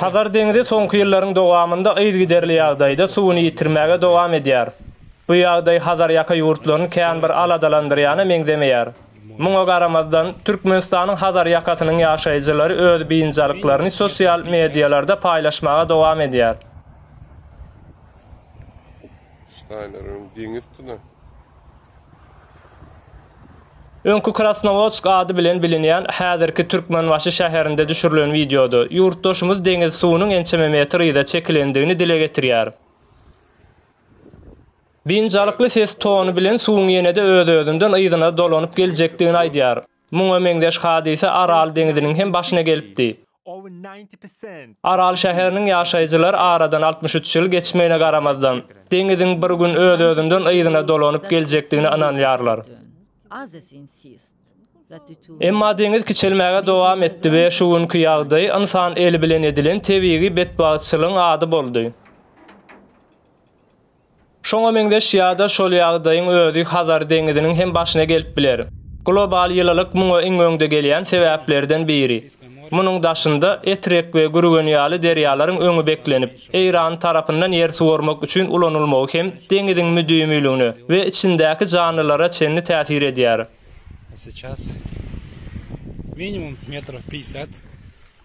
Hazar deňzi soňky ýyllaryň dowamynda yzygiderli ýagdaýda suwuny ýitirmäge dowam edýär. Bu ýagdaý Hazarýaka ýurtlaryny kän bir aladalandyrýana meňzemeýär. Muňa garamazdan, Türkmenistanyň Hazar ýakasynyň ýaşaýjylary öz biynjalyklaryny sosial medialarda paýlaşmaga dowam edýär. Öňki Krasnowodsk ady bilen bilinýän häzirki Türkmenbaşy şäherinde düşürilen wideoda, ýurtdaşymyz deňiz suwunyň ençeme metr yza çekilendigini dile getirýär. Biynjalykly ses tony bilen suwuň ýene-de öz-özünden yzyna dolanyp geljekdigini aýdýar. Muňa meňzeş hadysa Aral deňziniň hem başyna gelipdi. Aral şäheriniň ýaşaýjylar aradan altmyş üç ýyl geçmegine garamazdan, deňiziň bir gün öz-özünden yzyna dolanyp geljekdigine ynanýarlar. Emma deňiz kiçelmäge dowam etdi we şu günki ýagdaý ynsan eli bilen edilen tebigy betbagtçylygyň ady boldy. Şoňa meňzeş ýa-da şol ýagdaýyň özi Hazar deňiziniň hem başyna gelip biler. Global ýylylyk muňa iň öňde gelýän sebäplerden biri. Munuň daşynda Etrek we Gürgen ýaly derýalaryň öňi beklenip, Eýran tarapyndan ýer suwarmak üçin ulanylmagy hem deňiziň müdimiligine we içindäki janlylara çenli täsir edýär.